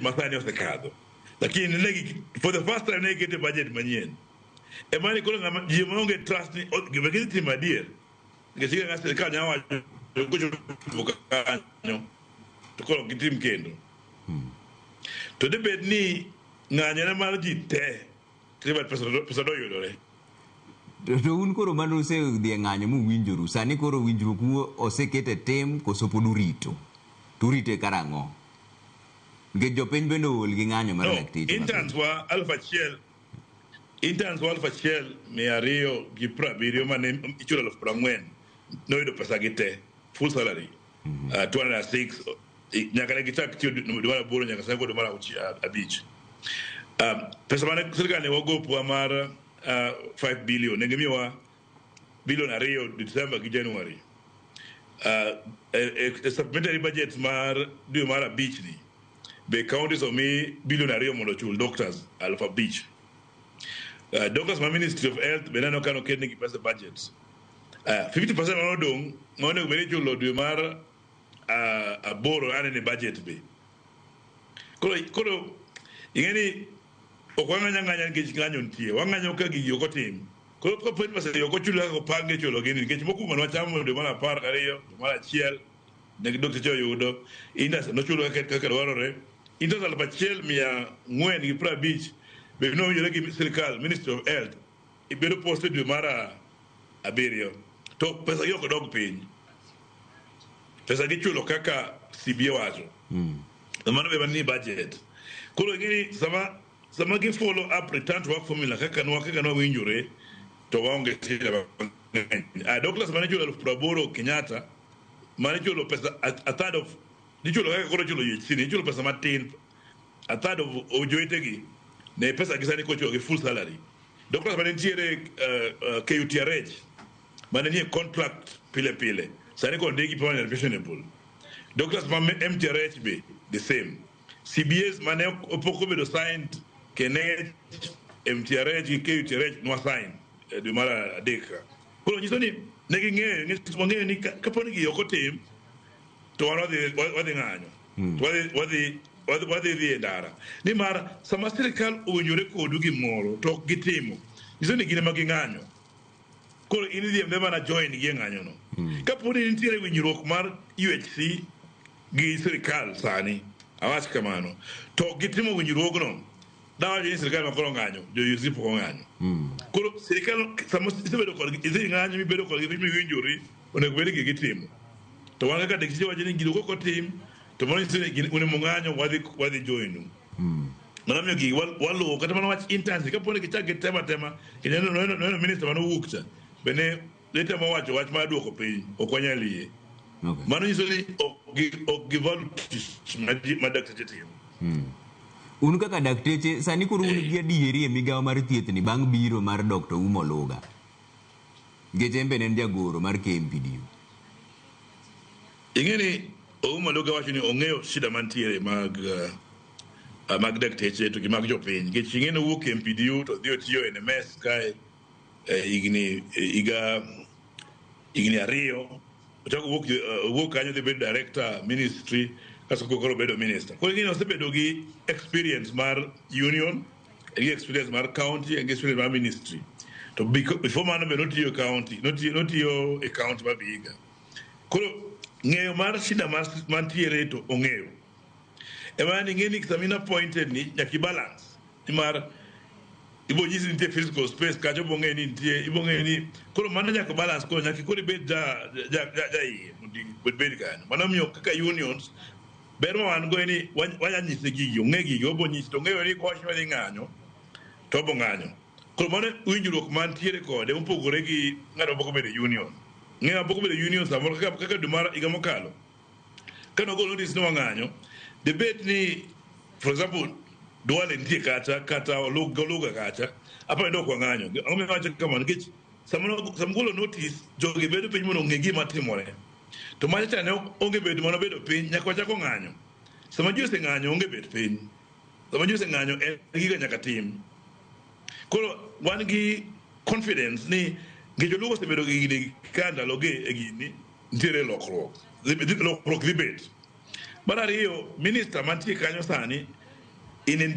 masani osekadho lakini negi for the first time ne gikete budget manyien ema ni koro ng'ama ji maonge trust ni o- gima gitimo adier nikech kaka sirikal nyalo wacho kochopo kanyo to koro ok gitim kendo to debed ni ng'anyone mar ji te Tribal pesa do- pesa doyudore. To to un koro mane usedhi e ng'anyo muwinjoru, sani koro winjruok u oseket e tim koso pod urito? To urite karang'o? Nikech jopiny bende ool gi ng'anyo mar No, dakteche mapiny. interns wa aluf achiel interns wa aluf achiel mia ariyo gi piero abiriyo mane ichulo aluf piero ang'wen noyudo pesa gi te full salary mm -hmm. uh, 206 nyaka ne gichak tiyo dwe mar aboro nyaka sani kod dwe mar abich um, pesa mane sirikal ne wagopwa mar uh, 5 billion ne gimiyowa bilion ariyo december gi january uh, e, e, e supplementary budget mar dwe mar abich ni be counties omi bilion ariyo mondo ochul doctors aluf abich uh, doctors ma ministry of health be neno ka noketnegi pesa budget Ah, 50% ma odong' ma onego bed ni ichulo dwe mar ah, aboro ane ni budget be. Koro koro ing'e ni ok wang'anya ng'anya nikech ng'anyo nitie. Wang'anyo ka gigi ok otim. Koro ka pwet pesa ok ochul kaka opange chulo gini nikech mokwongo ne wachamo dwe mar apar gariyo, dwe mar achiel ne dokteche oyudo, indas nochulo kaka kaka dwarore. Indas aluf achiel mia ang'wen gi piero abich be nowinjore gi sirkal Ministry of Health Ibedo post e dwe mar abiriyo to pesa gi ok dog piny. Pesa gi chulo kaka CBA wacho. Mm. Mano be manie budget. Koro ing'eni sama sama gi follow up return to work formula kaka nwa kaka nwa winjore to waonge shida mang'eny. Ah, Douglas mane chulo elfu praboro Kenyatta mane chulo pesa a, a third of nichulo kaka koro chulo UHC ni ichulo pesa matin A third of ojowetegi ne pesa gi sani kochuogi full salary. Doctors mane nitiere uh, uh, KUTRH mane nie contract pile pile sani kod ndegi permanent pensionable. Doctors ma MTRH be the same. CBS mane opok obedo signed Kenech, MTRH gi KUTRH nwa sign eh, dwe mar adek. Koro nyiso ni ne ging'eyo, nyiso ni kapo ni gi ok otim to wan wadhi ng'anyo. Wadhi- wadhi- wadhi- wadhi dhi e ndara nimar sama sirikal owinjore kodu gimoro to ok gitimo nyiso ni gin ema ging'anyo koro in idhi embe mana join gi e ng'anyono kapo ni nitiere winjruok mar UHC gi sirikal sani awach kamano to ok gitimo winjruogno dawacho ni sirikal makoro ng'anyo jo UHC pok ong'anyo koro sirikal sama isebedo kodgi idhi ng'anyo mibedo kodgi miwinjori onego bed ni gitimo. To wan kaka dakteche wacho ni gino kok otim to mano nyiso ni un mung'anyo wadhi wadhi joinu. Mm. Mano miyo gigi waluwo kata mana wach internship kapo ni gichak gitema tema ineno neno minister mano wuok cha bende itemo wacho wach mar duoko piny ok wanyal yie. Okay. Mano nyiso ni ok givalue tich ma dakteche timo. Mm. un kaka dakteche sani koro un gi adieri e migawo mar thiethni bang' biro mar Dr. Umo Luga nikech en be ne en jagoro mar KMPDU. Ing'e ni Ouma Luga wacho ni ong'eyo shida mantiere mag uh, mag dakteche to gi mag jopiny nikech ing'e ni owuok KMPDU to dhi otiyo e NMS kae eh, higni eh, higa higni ariyo ochako owuok eh, owuok kanyo dhi bedo director ministry kasto koro bedo minister. Koro ing'e ni osebedo gi experience mar union gi experience mar county gi experience mar ministry to biko- before mano be notiyo e county notiyo notiyo e county ma Vihiga koro ng'eyo mar shida mar mantiere to ong'eyo ema ni ng'eni samina appointed ni nyaki balance nimar ibo nyisi nitie physical space kacho ibo ng'eyo ni nitie ibo ng'eyo ni koro mano nyaka balance koro nyaki koro ibed ja ja ja ja iye mondo ibed kanyo mano miyo kaka unions Ber ma wan go en ni wa- wanya nyise gigi, ong'e gigi, obo nyise to ong'eyo ni kowacho ni ng'anyo to obo ng'anyo. Koro mano winjruok mantiere kode mopogore gi ng'ato mapok obedo e union. Ng'eyo mapok obedo e union samoro kaka kaka dwe mar higa mokalo ka nogol notice ni wang'anyo debate ni for example Duale nitie kacha kata Oluga Oluga kacha apa ni dok wang'anyo. Ang'o miwacho kamano nikech Samugolo notis, jogi bedo piny mondo ong'e gima timore. To mano cha ne onge bedo mana bedo piny, nyaka wachako ng'anyo. Sama ji oseng'anyo onge bet piny. Sama ji oseng'anyo en giga nyaka tim. Koro wan gi confidence ni ngeche lugo osebedo gi gini ka ndalogi e gini nitiere lokruok lokruok dhi bet mar ariyo minista mantie kanyo sani in, in